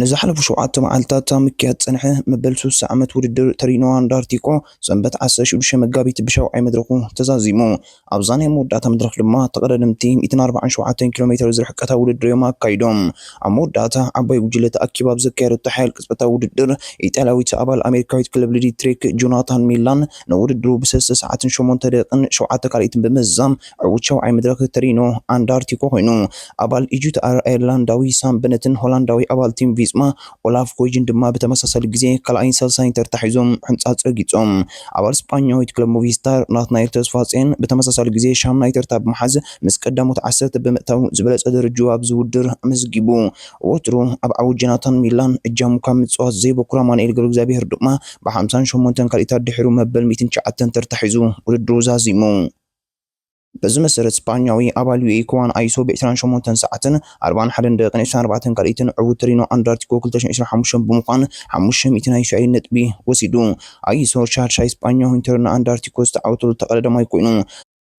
ንዝሓለፉ ሸውዓተ መዓልታት ኣብ ምክያድ ዝጸንሐ መበል ስሳ ዓመት ውድድር ተሪኖ ኣንዳርቲኮ ሰንበት ዓሰርተ ሽዱሽተ መጋቢት ብሻውዓይ መድረኹ ተዛዚሙ። ኣብዛ ናይ መወዳእታ መድረኽ ድማ ተቐዳደምቲ ሚእትን ኣርባዓን ሸውዓተን ኪሎ ሜተር ዝርሕቀታ ውድድር እዮም ኣካይዶም። ኣብ መወዳእታ ዓባይ ጉጅለ ተኣኪባ ኣብ ዘካየደቶ ሓያል ቅጽበታዊ ውድድር፣ ኢጣልያዊት ኣባል ኣሜሪካዊት ክለብ ልዲ ትሬክ ጆናታን ሚላን ንውድድሩ ብሰለስተ ሰዓትን ሸሞንተ ደቒቕን ሸውዓተ ካልኢትን ብምዝዛም ዕዉት ሻውዓይ መድረኽ ተሪኖ ኣንዳርቲኮ ኮይኑ። ኣባል ኢጁት ኣየርላንዳዊ ሳም በነትን ሆላንዳዊ ኣባል ቲም ቪስማ ኦላፍ ኮይጅን ድማ ብተመሳሳሊ ግዜ ካልኣይን ሳልሳይን ተርታ ሒዞም ሕንጻጽ ረጊጾም። ኣባል ስጳኛዊት ክለብ ሞቪስታር ናትናኤል ተስፋጼን ብተመሳሳሊ ግዜ ሻምናይ ተርታ ብምሓዝ ምስ ቀዳሞት ዓሰርተ ብምእታው ዝበለጸ ደረጅኡ ኣብዚ ውድድር ኣመዝጊቡ። ወትሩ ኣብ ዓወት ጀናታን ሚላን እጃሙ ካብ ምጽዋት ዘይበኩር ኣማኑኤል ገብረእግዚኣብሄር ድማ ብ ሓምሳን ሸሞንተን ካልኢታት ድሒሩ መበል ሚእትን ትሽዓተን ተርታ ሒዙ ውድድሩ ዛዚሙ። በዚ መሰረት ስጳኛዊ ኣባል ዩኤ ክዋን ኣይሶ ብ ዕስራን ሸሞንተን ሰዓትን ኣርብዓን ሓደን ደቂቕን ዕስራን ኣርባዕተን ካልኢትን ዕውት ተሪኖ ኣንዳርቲኮ ክልተ ሽሕን ዕስራን ሓሙሽተን ብምዃን ሓሙሽተ ሚእቲ ናይ እስራኤል ነጥቢ ወሲዱ። ኣይሶ ሻድሻይ ስጳኛዊን ተሪኖ ኣንዳርቲኮ ዝተዓወተሉ ተቐዳዳማይ ኮይኑ፣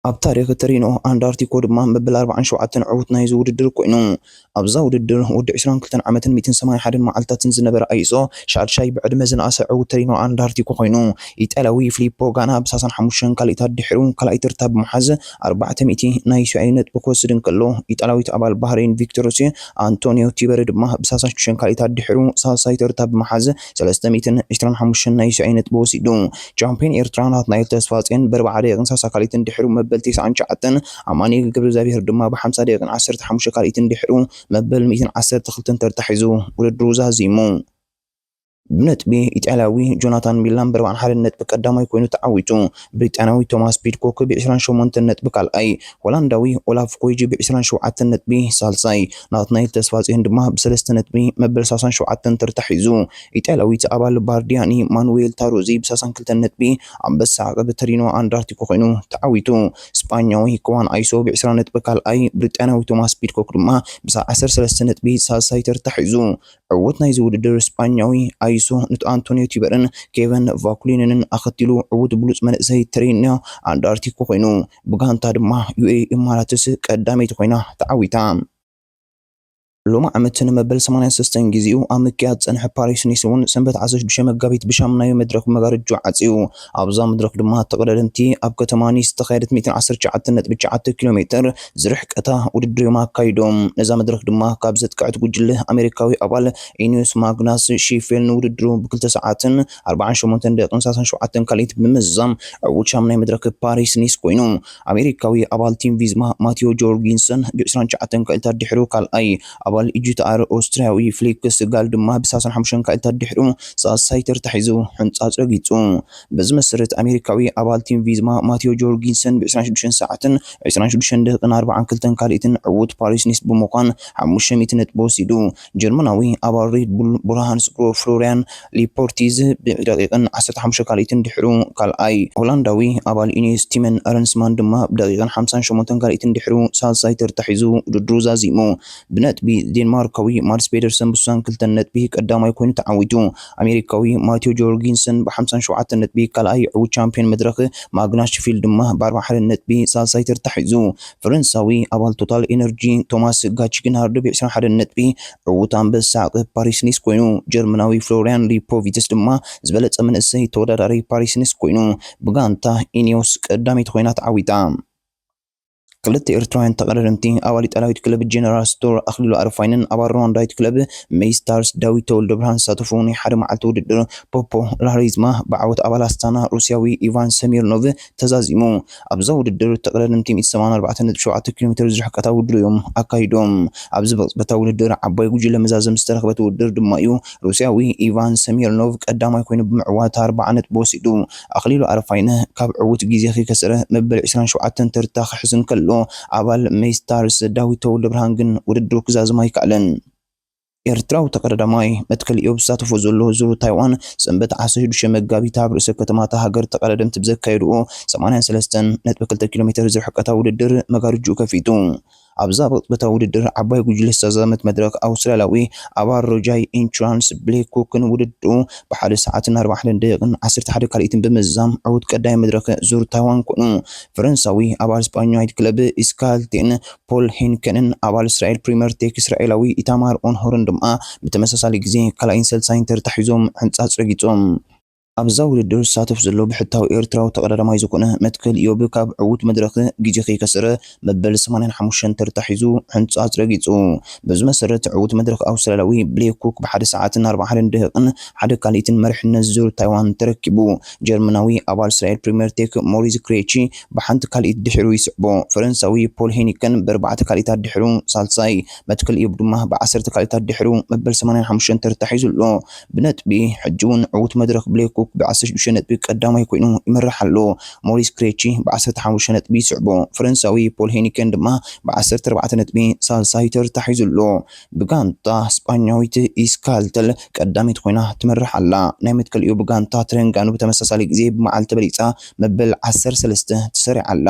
ኣብ ታሪኽ ተሪኖ ኣንዳርቲኮ ድማ መበል ኣርብዓን ሸውዓተን ዕውት ናይዚ ውድድር ኮይኑ። ኣብዛ ውድድር ወዲ ዕስራን ክልተን ዓመትን ሚእትን ሰማንያን ሓደን መዓልታትን ዝነበረ ኣይዞ ሻድሻይ ብዕድመ ዝነኣሰ ዕዉት ተሪኖ ኣንዳርቲኮ ኮይኑ፣ ኢጣልያዊ ፍሊፖ ጋና ብ ሳሳን ሓሙሽተን ካልኢታት ድሒሩ ካልኣይ ተርታ ብምሓዝ ኣርባዕተ ሚእቲ ናይ ስያዩ ነጥቢ ክወስድ እንከሎ ኢጣልያዊት ኣባል ባህረይን ቪክቶርሲ ኣንቶንዮ ቲበሪ ድማ ብ ሳሳን ሽዱሽተን ካልኢታት ድሒሩ ሳልሳይ ተርታ ብምሓዝ ሰለስተ ሚእትን ዕስራን ሓሙሽተን ናይ ስያዩ ነጥቢ ወሲዱ። ቻምፕዮን ኤርትራ ናትናኤል ተስፋጼን ብ ኣርብዓ ደቂቅን ሳሳ ካልኢትን ድሒሩ መበል ተስዓን ትሽዓተን ኣማኑኤል ገብረእግዚኣብሄር ድማ ብሓምሳ ደቂቕን ዓሰርተ ሓሙሽተ ካልኢትን ድሕሩ መበል ሚእትን ዓሰርተ ክልተን ተርታ ሒዙ ውድድሩ ዛዚሙ። ብነጥቢ ኢጣልያዊ ጆናታን ሚላን ብኣርብዓን ሓደን ነጥቢ ቀዳማይ ኮይኑ ተዓዊቱ። ብሪጣንያዊ ቶማስ ፒድኮክ ብዕስራን ሸሞንተን ነጥቢ ካልኣይ፣ ሆላንዳዊ ኦላፍ ኮይጂ ብዕስራን ሸውዓተን ነጥቢ ሳልሳይ፣ ናትናኤል ተስፋጽዮን ድማ ብሰለስተ ነጥቢ መበል ሳሳን ሸውዓተን ተርታ ሒዙ። ኢጣልያዊት ኣባል ባርዲያኒ ማኑዌል ታሩዚ ብሳሳን ክልተን ነጥቢ ኣንበሳ ዓቐብ ተሪኖ ኣንዳርቲኮ ኮይኑ ተዓዊቱ። ስጳኛዊ ክዋን ኣይሶ ብ ዕስራ ነጥቢ ካልኣይ፣ ብሪጣንያዊ ቶማስ ፒድኮክ ድማ ምስ ዓሰርተ ሰለስተ ነጥቢ ሳልሳይ ተርታ ሒዙ። ዕዉት ናይዚ ውድድር ስጳኛዊ ኣይሶ ኑቲ ኣንቶንዮ ቲበርን ኬቨን ቫኩሊንንን ኣኸቲሉ ዕዉት ብሉጽ መንእሰይ ትሬንዮ ኣንዳርቲኮ ኮይኑ። ብጋንታ ድማ ዩኤኢ ኢማራትስ ቀዳመይቲ ኮይና ተዓዊታ። ሎሚ ዓመት ንመበል ሰማንያን ሰስተን ግዜኡ ኣብ ምክያድ ዝጸንሐ ፓሪስ ኒስ'ውን ሰንበት ዓሰርተ ሽዱሽተ መጋቢት ብሻሙናዮ መድረኽ መጋርጃ ዓጽዩ። ኣብዛ መድረኽ ድማ ተቐዳደምቲ ኣብ ከተማ ኒስ ዝተኻየደት ሚእትን ዓሰርተ ትሽዓተን ነጥቢ ትሽዓተ ኪሎ ሜተር ዝርሕቀታ ውድድር'ዮም ኣካይዶም። ነዛ መድረኽ ድማ ካብ ዘጥቀዐት ጉጅለ ኣሜሪካዊ ኣባል ኢንዩስ ማግናስ ሺፌል ንውድድሩ ብክልተ ሰዓትን ኣርብዓን ሸሞንተን ደቂቕን ሰላሳን ሸውዓተን ካልኢት ብምዝዛም ዕዉት ሻሙናይ መድረኽ ፓሪስ ኒስ ኮይኑ። ኣሜሪካዊ ኣባል ቲም ቪዝማ ማቲዮ ጆርጊንሰን ብ ዕስራን ትሽዓተን ክኢልታት ድሒሩ ካልኣይ፣ ኣባል EGTR ኦስትርያዊ ፍሊክስ ጋል ድማ ብ ሰላሳን ሓሙሽተን ክኢልታት ድሒሩ ሳልሳይ ተርታ ሒዙ ሕንጻጽ ረጊጹ። በዚ መሰረት ኣሜሪካዊ ኣባል ቲም ቪዝማ ማቲዮ ጆርጊንሰን ብ ዕስራን ሽዱሽተን ሰዓትን ዕስራን ሽዱሽተን ደቂቅን ኣርባዓን ክልተን ካልኢትን ዕዉት ፓሪስ-ኒስ ብምዃን ሓሙሽተ ሚእቲ ነጥቢ ወሲዱ ጀርመናዊ ኣባል ሬድ ቡል ብርሃንስ ግሩፕ ፍሎርያን ሊፖርቲዝ ብደቂቕን 15 ካልኢትን ድሕሩ ካልኣይ፣ ሆላንዳዊ ኣባል ኢኔስ ቲመን ኣረንስማን ድማ ብደቂቕን 58 ካልኢትን ድሕሩ ሳልሳይ ተርታ ሒዙ ውድድሩ ዛዚሙ። ብነጥቢ ዴንማርካዊ ማድስ ፔደርሰን ብስሳን ክልተን ነጥቢ ቀዳማይ ኮይኑ ተዓዊቱ። ኣሜሪካዊ ማቲዮ ጆርጊንሰን ብሓምሳን ሸውዓተን ነጥቢ ካልኣይ፣ ዕውት ቻምፕዮን መድረኽ ማግናስ ሽፊልድ ድማ ብኣርባሓደን ነጥቢ ሳልሳይ ተርታ ሒዙ። ፈረንሳዊ ኣባል ቶታል ኤነርጂ ቶማስ ጋች ግና ርድብ ዕስራን ሓደን ነጥቢ ዕዉት ኣንበሳ ዓቐብ ፓሪስ ኒስ ኮይኑ፣ ጀርመናዊ ፍሎርያን ሊፖቪትስ ድማ ዝበለጸ መንእሰይ ተወዳዳሪ ፓሪስ ኒስ ኮይኑ፣ ብጋንታ ኢኔዎስ ቀዳመይቲ ኮይና ተዓዊታ። ክልተ ኤርትራውያን ተቐዳደምቲ፣ ኣባል ኢጣልያዊት ክለብ ጀነራል ስቶር ኣኽሊሉ ኣረፋይነን ኣባል ሩዋንዳዊት ክለብ መይ ስታርስ ዳዊት ተወልደብርሃን ዝሳተፉ ናይ ሓደ መዓልቲ ውድድር ፖፖላሪዝማ ብዓወት ኣባል ኣስታና ሩስያዊ ኢቫን ሰሚርኖቭ ተዛዚሙ። ኣብዛ ውድድር ጠቕለልምቲ ሚእቲ ሰብዓን ኣርባዕተን ነጥቢ ሸውዓተ ኪሎ ሜተር ዝርሕቀታ ውድድር እዮም ኣካይዶም። ኣብዚ ብቕጽበታዊ ውድድር ዓባይ ጉጅለ መዛዘሚ ዝተረኽበት ውድድር ድማ'ዩ ሩስያዊ ኢቫን ሰሚርኖቭ ቀዳማይ ኮይኑ ብምዕዋት ኣርብዓ ነጥቢ ወሲዱ። ኣኽሊሉ ኣረፋይነ ካብ ዕዉት ግዜ ክከስር መበል ዕስራን ሸውዓተን ተርታ ክሕዝ እንከሎ፣ ኣባል ሜይስታርስ ዳዊት ተወልደብርሃን ግን ውድድሩ ክዛዝም ኣይከኣለን። ኤርትራዊ ተቐዳዳማይ መትከል ኢዮብ ዝሳተፎ ዘሎ ዙር ታይዋን ሰንበት ዓሰርተ ሽዱሽተ መጋቢት ኣብ ርእሰ ከተማ እታ ሃገር ተቐዳደምቲ ብዘካየድዎ ሰማንያን ሰለስተን ነጥቢ ክልተ ኪሎ ሜተር ዝርሕቀታዊ ውድድር መጋርጅኡ ከፊቱ። ኣብዛ ብቕጽበታዊ ውድድር ዓባይ ጉጅለ ዝተዛዘመት መድረኽ ኣውስትራልያዊ ኣባል ሮጃይ ኢንሹራንስ ብሌክ ኩክን ውድድሩ ብሓደ ሰዓትን ኣርባዕተ ሓደን ደቂቕን ዓሰርተ ሓደ ካልኢትን ብምዝዛም ዕዉት ቀዳማይ መድረኽ ዙር ታይዋን ኮይኑ ፈረንሳዊ ኣባል ስጳኛዊት ክለብ ኢስካልቴን ፖል ሄንከንን ኣባል እስራኤል ፕሪመር ቴክ እስራኤላዊ ኢታማር ኦንሆርን ድማ ብተመሳሳሊ ግዜ ካልኣይን ሰልሳይን ተርታ ሒዞም ሕንጻጽ ረጊጾም። ኣብዛ ውድድር ዝሳተፍ ዘሎ ብሕታዊ ኤርትራዊ ተቐዳዳማይ ዝኾነ መትከል ኢዮብ ካብ ዕዉት መድረኽ ግዜ ከይከሰረ መበል ሰማንያን ሓሙሽተን ተርታ ሒዙ ሕንጻጽ ረጊጹ። በዚ መሰረት ዕዉት መድረኽ ኣውስትራልያዊ ብሌክ ኩክ ብሓደ ሰዓትን ኣርባዓን ደቂቕን ሓደ ካልኢትን መሪሕነት ዙር ታይዋን ተረኪቡ። ጀርመናዊ ኣባል እስራኤል ፕሪመር ቴክ ሞሪዝ ክሬቺ ብሓንቲ ካልኢት ድሒሩ ይስዕቦ ፈረንሳዊ ፖል ሄኒከን ብኣርባዕተ ካልኢታት ድሒሩ ሳልሳይ፣ መትክል ኢዮብ ድማ ብዓሰርተ ካልኢታት ድሒሩ መበል ሰማንያን ሓሙሽተን ተርታ ሒዙ ኣሎ ብነጥቢ። ሕጂ'ውን ዕዉት መድረኽ ብሌ ኩክ ብዓሰርተ ሽዱሽተ ነጥቢ ቀዳማይ ኮይኑ ይመርሕ ኣሎ፣ ሞሪስ ክሬቺ ብዓሰርተ ሓሙሽተ ነጥቢ ይስዕቦ፣ ፈረንሳዊ ፖል ሄኒከን ድማ ብዓሰርተ ኣርባዕተ ነጥቢ ሳልሳይ ተርታ ሒዙ ኣሎ። ብጋንታ ስጳኛዊት ኢስካልተል ቀዳመይቲ ኮይና ትመርሕ ኣላ። ናይ መትከሊኡ ብጋንታ ትረንጋኑ ብተመሳሳሊ ግዜ ብመዓልቲ ተበሊጻ መበል ዓሰርተ ሰለስተ ተሰሪዓ ኣላ።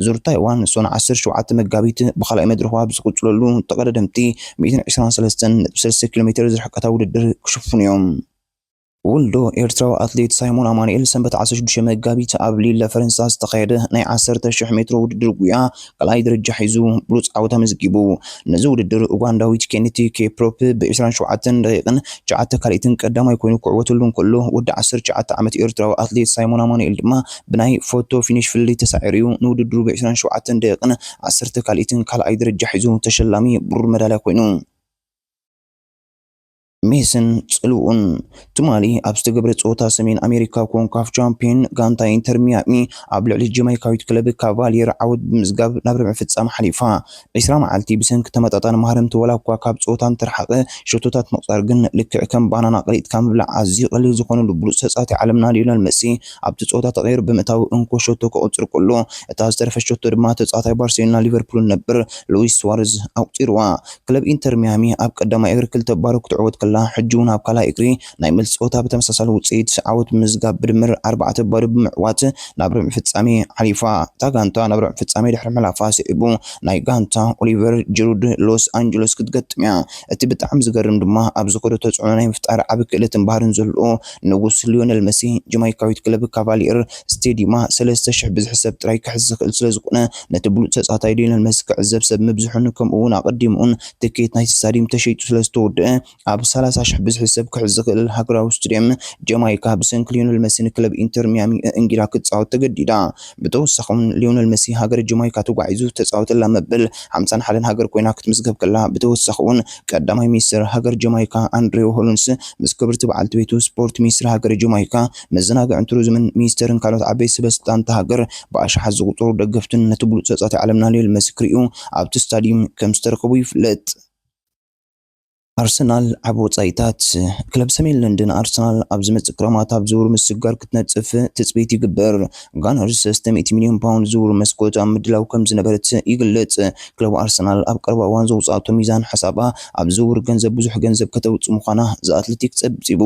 ዙር ታይዋን ሶን ዓሰርተ ሸውዓተ መጋቢት ብኻልኣይ መድረኽዋ ብዝቕጽለሉ ተቐዳደምቲ ሚእትን ዕስራን ሰለስተን ነጥቢ ሰለስተ ኪሎሜተር ዝርሕቀታ ውድድር ክሽፍኑ'ዮም። ውልዶ ኤርትራዊ ኣትሌት ሳይሞን ኣማኑኤል ሰንበት ዓሰርተ ሽዱሽተ መጋቢት ኣብ ሊለ ፈረንሳ ዝተኻየደ ናይ ዓሰርተ ሽሕ ሜትሮ ውድድር ጉያ ካልኣይ ደረጃ ሒዙ ብሉጽ ዓወት ኣመዝጊቡ። ነዚ ውድድር ኡጋንዳዊት ኬኒቲ ኬፕሮፕ ብ ዕስራን ሸውዓተን ደቂቕን ትሽዓተ ካልኢትን ቀዳማይ ኮይኑ ክዕወተሉ እንከሎ ወዲ ዓሰርተ ትሽዓተ ዓመት ኤርትራዊ ኣትሌት ሳይሞን ኣማኑኤል ድማ ብናይ ፎቶ ፊኒሽ ፍልልይ ተሳዒሩ'ዩ ንውድድሩ ብ ዕስራን ሸውዓተን ደቂቕን ዓሰርተ ካልኢትን ካልኣይ ደረጃ ሒዙ ተሸላሚ ብሩር መዳልያ ኮይኑ። ሜስን ጽልውኡን ትማሊ ኣብ ዝተገብረ ጸወታ ሰሜን ኣሜሪካ ኮንካፍ ቻምፒዮን ጋንታ ኢንተር ሚያሚ ኣብ ልዕሊ ጀማይካዊት ክለብ ካቫሊየር ዓወት ብምዝጋብ ናብ ርብዒ ፍጻመ ሓሊፋ። ዕስራ መዓልቲ ብሰንኪ ተመጣጣኒ ማህረምቲ ዋላኳ ካብ ጸወታ እንተረሓቐ፣ ሸቶታት ምቑጻር ግን ልክዕ ከም ባናና ቀሊጥካ ምብላዕ ኣዝዩ ቀሊል ዝኾነሉ ብሉጽ ተጻዋታይ ዓለምና ሊዮነል መሲ ኣብቲ ጸወታ ተቐይሩ ብምእታዉ እንኮ ሸቶ ከቑጽር ከሎ፣ እታ ዝተረፈት ሸቶ ድማ ተጻዋታይ ባርሴሎናን ሊቨርፑልን ነበር ሉዊስ ስዋረዝ ኣቑጺሩዋ። ክለብ ኢንተር ሚያሚ ኣብ ቀዳማይ እግሪ ክልተ ባዶ ክትዕወት ከላ፣ ሕጂ'ውን ኣብ ካልኣይ እግሪ ናይ መልሲ ጸወታ ብተመሳሳሊ ውጽኢት ዓወት ብምምዝጋብ ብድምር ኣርባዕተ ባዶ ብምዕዋት ናብ ርብዒ ፍጻሜ ሓሊፋ። እታ ጋንታ ናብ ርብዒ ፍጻሜ ድሕሪ ምሕላፋ ስዒቡ ናይ ጋንታ ኦሊቨር ጂሩድ ሎስ ኣንጀለስ ክትገጥም'ያ። እቲ ብጣዕሚ ዝገርም ድማ ኣብ ዝኸዶ ተጽዕኖ ናይ ምፍጣር ዓቢ ክእለትን ባህርን ዘለዎ ንጉስ ሊዮነል መሲ ጀማይካዊት ክለብ ካቫልየር ስቴዲማ ሰለስተ ሽሕ ብዝሕሰብ ጥራይ ክሕዝ ዝኽእል ስለዝኾነ ነቲ ብሉጽ ተጻታይ ሊዮነል መሲ ክዕዘብ ሰብ ምብዝሑን ከምኡ'ውን ኣቐዲሙ'ውን ትኬት ናይቲ ስታድዩም ተሸይጡ ስለዝተወድኣ ኣብ ሰላሳ ሽሕ ብዝሒ ሰብ ክሕዝ ዝኽእል ሃገራዊ ስቱድየም ጀማይካ ብሰንኪ ሊዮነል መሲ ንክለብ ኢንተር ሚያሚ እእንጊላ ክትጻወት ተገዲዳ። ብተወሳኺ'ውን ሊዮነል መሲ ሃገረ ጀማይካ ተጓዒዙ ዝተጻወተላ መበል ሓምሳን ሓደን ሃገር ኮይና ክትምዝገብ ከላ ብተወሳኺ'ውን ቀዳማይ ሚኒስተር ሃገር ጀማይካ ኣንድሬው ሆሎንስ ምስ ክብርቲ በዓልቲ ቤቱ ስፖርት ሚኒስትሪ ሃገረ ጀማይካ መዘናግዕን ቱሪዝምን ሚኒስቴርን ካልኦት ዓበይቲ ሰበስልጣን እታ ሃገር ብኣሽሓት ዝቑፀሩ ደገፍትን ነቲ ብሉፅ ተፃዋታይ ዓለምና ሊዮል መሲ ክሪኡ ኣብቲ ስታዲዩም ከምዝተረከቡ ይፍለጥ። ኣርሰናል ኣብ ወጻኢታት። ክለብ ሰሜን ለንደን ኣርሰናል ኣብ ዝመጽእ ክረማት ኣብ ዝውውር ምስግጋር ክትነጥፍ ትጽቢት ይግበር። ጋነርስ ሰለስተ ሚእቲ ሚልዮን ፓውንድ ዝውውር መስኮት ኣብ ምድላው ከምዝነበረት ይግለጽ። ክለብ ኣርሰናል ኣብ ቀረባ እዋን ዘውጽኣቶ ሚዛን ሓሳባ ኣብ ዝውውር ገንዘብ ብዙሕ ገንዘብ ከተውጽእ ምዃና ዘ ኣትለቲክ ጸብጺቡ።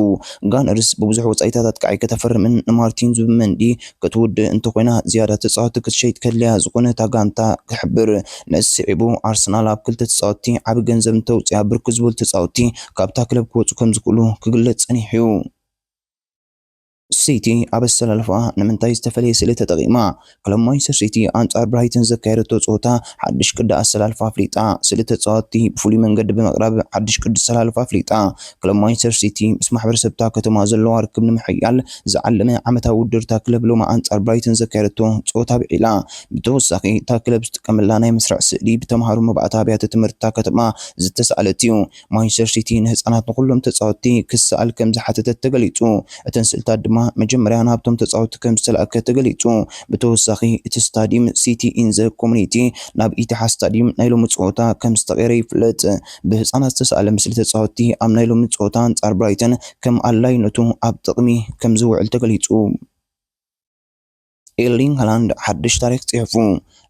ጋነርስ ብብዙሕ ወጻኢታት ኣጥቃዒ ከተፈርምን ንማርቲን ዙብመንዲ ክትውድእ እንተኾይና ዝያዳ ተጻወትቲ ክትሸይጥ ከድልያ ዝኾነ እታ ጋንታ ክሕብር። ነዚ ስዒቡ ኣርሰናል ኣብ ክልተ ተጻወትቲ ዓቢ ገንዘብ እንተውጽኣ ብርክት ዝበሉ ተጻወትቲ ካብታ ክለብ ክወጹ ከምዝኽእሉ ክግለጽ ጸኒሑ'ዩ። ሲቲ ኣብ ኣሰላልፋኣ ንምንታይ ዝተፈለየ ስእሊ ተጠቒማ? ክለብ ማንቸስተር ሲቲ ኣንጻር ብራይተን ዘካየደቶ ጸወታ ሓድሽ ቅዲ ኣሰላልፋ ኣፍሊጣ። ስእሊ ተጻወትቲ ብፍሉይ መንገዲ ብምቕራብ ሓድሽ ቅዲ ኣሰላልፋ ኣፍሊጣ። ክለብ ማንቸስተር ሲቲ ምስ ማሕበረሰብ'ታ ከተማ ዘለዋ ርክብ ንምሕያል ዝዓለመ ዓመታዊ ውድድር'ታ ክለብ ሎሚ ኣንጻር ብራይተን ዘካየደቶ ጸወታ ኣብዒላ። ብተወሳኺ እታ ክለብ ዝጥቀመላ ናይ መስርዕ ስእሊ ብተምሃሮ መባእታ ኣብያተ ትምህርቲ'ታ ከተማ ዝተሳእለት'ዩ። ማንቸስተር ሲቲ ንህጻናት ንኹሎም ተጻወትቲ ክሰኣል ከም ዝሓተተት ተገሊጹ። እተን ስእልታት ድማ መጀመርያ ናብቶም ተጻወትቲ ከም ዝተላእከ ተገሊጹ። ብተወሳኺ እቲ ስታድዩም ሲቲ ኢን ዘ ኮሙኒቲ ናብ ኢቲሓድ ስታድዩም ናይ ሎሚ ጸወታ ከም ዝተቐየረ ይፍለጥ። ብህጻናት ዝተሳእለ ምስሊ ተጻወትቲ ኣብ ናይ ሎሚ ጸወታ ኣንጻር ብራይተን ከም ኣድላይነቱ ኣብ ጥቕሚ ከም ዝውዕል ተገሊጹ። ኤርሊንግ ሃላንድ ሓድሽ ታሪኽ ጽሒፉ።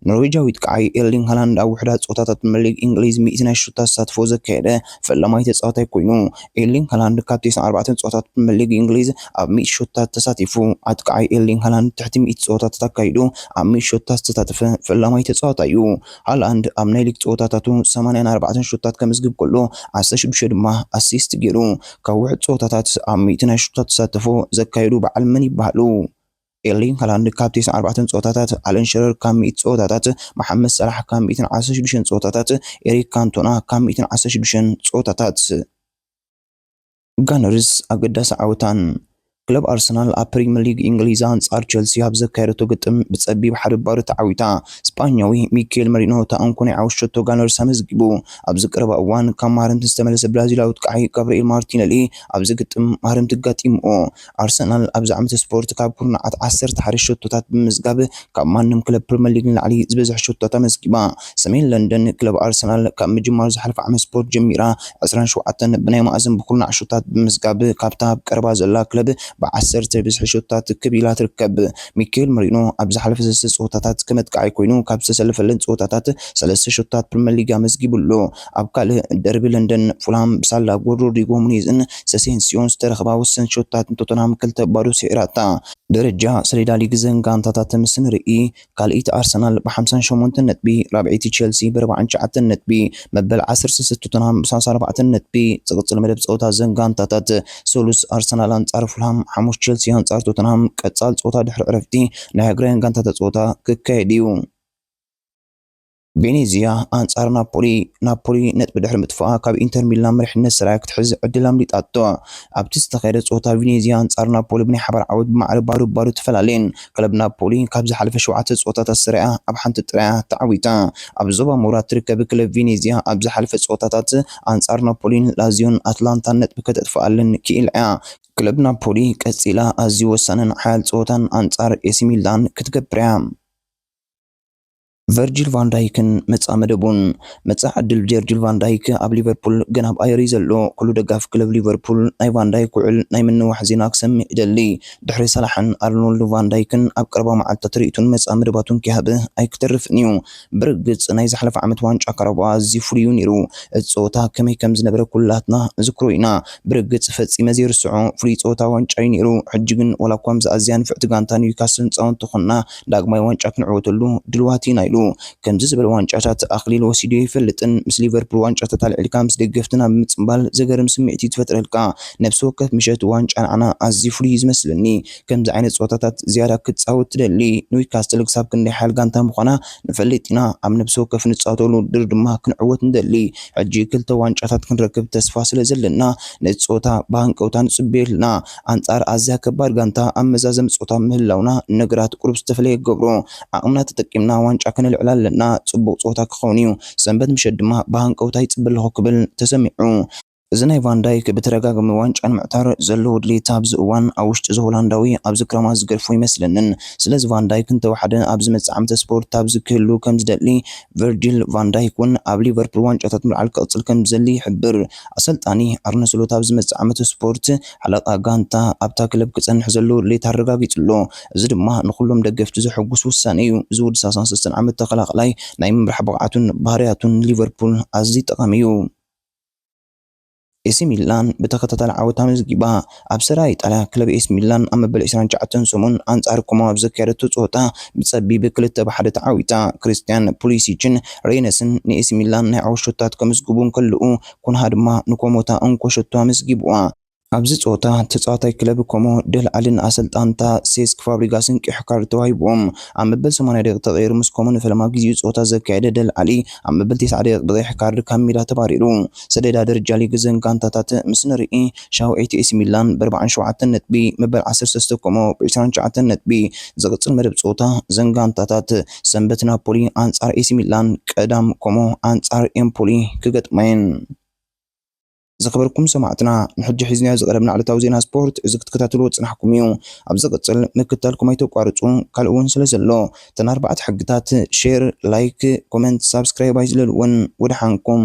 ኖርዌጃዊ ጥቃዓይ ኤርሊንግ ሃላንድ ኣብ ውሑዳት ጸወታታት ፕሪመር ሊግ እንግሊዝ ሚእቲ ናይ ሹታ ተሳትፎ ዘካየደ ፈላማይ ተጻዋታይ ኮይኑ። ኤርሊንግ ሃላንድ ካብ ተስዓን ኣርባዕተን ጸወታታት ፕሪመር ሊግ እንግሊዝ ኣብ ሚእቲ ሹታታት ተሳቲፉ። ኣጥቃዓይ ኤርሊንግ ሃላንድ ትሕቲ ሚእቲ ጸወታታት ኣካይዱ ኣብ ሚእቲ ሹታታት ዝተሳተፈ ፈላማይ ተጻዋታይ'ዩ። ሃላንድ ኣብ ናይ ሊግ ጸወታታቱ ሰማንያን ኣርባዕተን ሹታታት ከምዝግብ ከሎ ዓሰርተ ሽዱሽተ ድማ ኣሲስት ጌሩ። ካብ ውሑድ ጸወታታት ኣብ ሚእቲ ናይ ሹታ ተሳትፎ ዘካየዱ በዓል መን ይበሃሉ? ኤርሊንግ ሃላንድ ካብ ቴስዓ ኣርባዕተን ጸወታታት፣ ኣለን ሽረር ካብ ሚእቲ ጸወታታት፣ መሓመድ ሰላሕ ካብ ሚእትን ዓሰርተ ሽዱሽተን ጸወታታት፣ ኤሪክ ካንቶና ካብ ሚእትን ዓሰርተ ሽዱሽተን ጸወታታት። ጋነርስ ኣገዳሲ ዓወታን ክለብ ኣርሰናል ኣብ ፕሪምየር ሊግ እንግሊዝ ኣንጻር ቸልሲ ኣብ ዘካየደቶ ግጥም ብጸቢብ ሓደ ባዶ ተዓዊታ። ስጳኛዊ ሚኬል መሪኖ እታ እንኮ ናይ ዓወት ሸቶ ጋነርስ ኣመዝጊቡ። ኣብዚ ቀረባ እዋን ካብ ማህረምቲ ዝተመለሰ ብራዚላዊ ኣጥቃዒ ጋብርኤል ማርቲነሊ ኣብዚ ግጥም ማህረምቲ ኣጋጢምዎ። ኣርሰናል ኣብዚ ዓመተ ስፖርት ካብ ኩርናዓት ዓሰርተ ሓደ ሸቶታት ብምምዝጋብ ካብ ማንም ክለብ ፕሪመር ሊግ ንላዕሊ ዝበዝሐ ሸቶታት ኣመዝጊባ። ሰሜን ለንደን ክለብ ኣርሰናል ካብ ምጅማር ዝሓለፈ ዓመት ስፖርት ጀሚራ ዕስራን ሸውዓተን ብናይ ማእዝን ብኩርናዕ ሸቶታት ብምምዝጋብ ካብታ ኣብ ቀረባ ዘላ ክለብ ብዓሰርተ ብዝሒ ሸቶታት ክብ ኢላ ትርከብ። ሚኬል መሪኖ ኣብ ዝሓለፈ ሰለስተ ጸወታታት ከም ኣጥቃዓይ ኮይኑ ካብ ዝተሰለፈለን ጸወታታት ሰለስተ ሸቶታት ፕሪመር ሊግ ኣመዝጊቡ ኣሎ። ኣብ ካልእ ደርቢ ለንደን፣ ፉልሃም ብሳላ ጎል ሮድሪጎ ኑኔዝን ሰሴንስዮን ዝተረኽባ ውስን ሸቶታት ንቶተንሃም ክልተ ባዶ ሰዒራታ። ደረጃ ሰሌዳ ሊግ እዘን ጋንታታት ምስ ንርኢ፣ ካልኣይቲ ኣርሰናል ብ ሓምሳን ሸሞንተን ነጥቢ፣ ራብዐይቲ ቸልሲ ብ ኣርብዓን ትሽዓተን ነጥቢ፣ መበል ዓሰርተ ሰለስተ ቶተንሃም ብ ሰላሳ ኣርባዕተ ነጥቢ ዝቕጽል መደብ ጸወታ እዘን ጋንታታት ሰሉስ ኣርሰናል ኣንጻር ፉልሃም ሓሙስ ቸልሲ ኣንጻር ቶተንሃም ቀጻሊ ጸወታ ድሕሪ ዕረፍቲ ናይ ሃገራውያን ጋንታታት ጸወታ ክካየድ እዩ። ቬኔዝያ ኣንጻር ናፖሊ ናፖሊ ነጥቢ ድሕሪ ምጥፋኣ ካብ ኢንተር ሚላን መሪሕነት ሰሪያ ክትሕዝ ዕድል ኣምሊጣቶ ኣብቲ ዝተኻየደ ጸወታ ቬኔዝያ ኣንጻር ናፖሊ ብናይ ሓባር ዓወት ብማዕረ ባዶ ባዶ ተፈላለየን ክለብ ናፖሊ ካብ ዝሓለፈ ሸውዓተ ጸወታታት ሰሪያ ኣብ ሓንቲ ጥራያ ተዓዊታ ኣብ ዞባ ምውራድ ትርከብ ክለብ ቬኔዝያ ኣብ ዝሓለፈ ጸወታታት ኣንጻር ናፖሊን ላዚዮን ኣትላንታን ነጥቢ ከተጥፍኣለን ክኢላ እያ ክለብ ናፖሊ ቀጺላ ኣዝዩ ወሳንን ሓያል ጸወታን ኣንጻር ኤሲ ሚላን ክትገብር እያ ቨርጂል ቫን ዳይክን መጻኢ መደቡን። መጻኢ ዕድል ጀርጂል ቫን ዳይክ ኣብ ሊቨርፑል ገና ኣብ ኣየር እዩ ዘሎ። ኩሉ ደጋፊ ክለብ ሊቨርፑል ናይ ቫን ዳይክ ውዕል ናይ ምንዋሕ ዜና ክሰምዕ ይደሊ። ድሕሪ ሳላሕን ኣርኖልድ ቫን ዳይክን ኣብ ቀረባ መዓልትታት ርእይቱን መጻኢ መደባቱን ኪሃብ ኣይክተርፍን እዩ። ብርግጽ ናይ ዝሓለፈ ዓመት ዋንጫ ካራባኦ ኣዝዩ ፍሉይ እዩ ነይሩ። እቲ ጸወታ ከመይ ከም ዝነበረ ኩላትና ንዝክሮ ኢና። ብርግጽ ፈጺመ ዘይርስዖ ፍሉይ ጸወታ ዋንጫ እዩ ነይሩ። ሕጂ ግን ዋላኳ ምስ ኣዝያ ንፍዕቲ ጋንታ ኒውካስል ንጻወት እንተኾንና፣ ዳግማይ ዋንጫ ክንዕወተሉ ድልዋት ኢና ኢሉ። ከምዚ ዝበለ ዋንጫታት ኣኽሊሉ ወሲዱ ኣይፈልጥን። ምስ ሊቨርፑል ዋንጫታት ኣልዒልካ ምስ ደገፍትና ብምጽንባል ዘገርም ስምዒት'ዩ ዝፈጥረልካ። ነፍሲ ወከፍ ምሸት ዋንጫ ንዓና ኣዝዩ ፍሉይ'ዩ ዝመስለኒ። ከምዚ ዓይነት ጸወታታት ዝያዳ ክትጻወት ትደሊ። ንዊካስትል ክሳብ ክንደይ ሓያል ጋንታ ምዃና ንፈልጥ ኢና። ኣብ ነፍሲ ወከፍ ንጻወተሉ ውድድር ድማ ክንዕወት ንደሊ። ሕጂ ክልተ ዋንጫታት ክንረክብ ተስፋ ስለ ዘለና ነቲ ጸወታ ብሃንቀውታ ንጽበዮ ኣልና። ኣንጻር ኣዝያ ከባድ ጋንታ ኣብ መዛዘሚ ጾታ ምህላውና ነገራት ቁሩብ ዝተፈለየ ይገብሮ። ዓቕምና ተጠቂምና ዋንጫ ከነልዕል ኣለና፣ ጽቡቕ ጸወታ ክኸውን እዩ፣ ሰንበት ምሸት ድማ ብሃንቀውታ ይጽበ ኣለኹ ክብል ተሰሚዑ። እዚ ናይ ቫን ዳይክ ብተደጋጋሚ ዋንጫ ንምዕታር ዘለዎ ድሌት ኣብዚ እዋን ኣብ ውሽጢ እዚ ሆላንዳዊ ኣብዚ ክራማት ዝገድፎ ኣይመስለንን። ስለዚ ቫን ዳይክ እንተወሓደ ኣብ ዝመጽእ ዓመተ ስፖርት ኣብዚ ክህሉ ከም ዝደሊ ቨርጂል ቫን ዳይክ እውን ኣብ ሊቨርፑል ዋንጫታት ምልዓል ክቕጽል ከምዝደሊ ይሕብር። ኣሰልጣኒ ኣርነ ስሎት ኣብ ዝመጽእ ዓመት ስፖርት ሓለቓ ጋንታ ኣብታ ክለብ ክጸንሕ ዘለዎ ድሌት ኣረጋጊጹ ኣሎ። እዚ ድማ ንኹሎም ደገፍቲ ዘሐጉስ ውሳነ እዩ። እዚ ወዲ ሰላሳን ሰለስተን ዓመት ተኸላኻላይ ናይ ምምራሕ ብቕዓቱን ባህርያቱን ንሊቨርፑል ኣዝዩ ጠቓሚ እዩ። ኤሲ ሚላን ብተኸታታሊ ዓወት ኣመዝጊባ። ኣብ ሰሪኣ ኢጣልያ፣ ክለብ ኤሲ ሚላን ኣብ መበል ዕስራን ትሽዓተን ሰሙን ኣንጻር ኮሞ ኣብ ዘካየደቶ ጸወታ ብጸቢብ ክልተ ብ ሓደ ተዓዊታ። ክሪስትያን ፑሊሲችን ሬይነስን ንኤሲ ሚላን ናይ ዓወት ሸቶታት ከምዝግቡ እንከለዉ፣ ኩንሃ ድማ ንኮሞ እታ እንኮ ሸቶ ኣመዝጊቡዋ። ኣብዚ ጸወታ፣ ተጻዋታይ ክለብ ኮሞ ደል ኣሊ ንኣሰልጣንታ ሴስክ ፋብሪጋስን ቀይሕ ካርድ ተዋሂቡዎም። ኣብ መበል ሰማንያ ደቂቕ ተቐይሩ ምስ ኮሞ ንፈለማ ግዜኡ ጸወታ ዘካየደ ደል ኣሊ፣ ኣብ መበል ተስዓ ደቂቕ ብቀይሕ ካርድ ካብ ሜዳ ተባሪሩ። ሰሌዳ ደረጃ ሊግ እዘን ጋንታታት ምስ ንርኢ፣ ሻውዐይቲ ኤሲ ሚላን ብኣርብዓን ሸውዓተን ነጥቢ መበል ዓሰርተ ሰለስተ ኮሞ ብዕስራን ትሽዓተን ነጥቢ ዝቕጽል መደብ ጸወታ እዘን ጋንታታት ሰንበት ናፖሊ ኣንጻር ኤሲ ሚላን ቀዳም ኮሞ ኣንጻር ኤምፖሊ ክገጥማ'የን። ዝኸበርኩም ሰማዕትና ንሕጂ ሒዝናዮ ዝቐረብና ዕለታዊ ዜና ስፖርት እዚ ክትከታተልዎ ዝጸናሕኩም እዩ። ኣብ ዝቕጽል ምክትታልኩም ኣይተቋርጹ ካልእ ውን ስለ ዘሎ እተን ኣርባዕተ ሕግታት ሼር፣ ላይክ፣ ኮመንት፣ ሳብስክራይብ ኣይዝለልወን። ወደሓንኩም።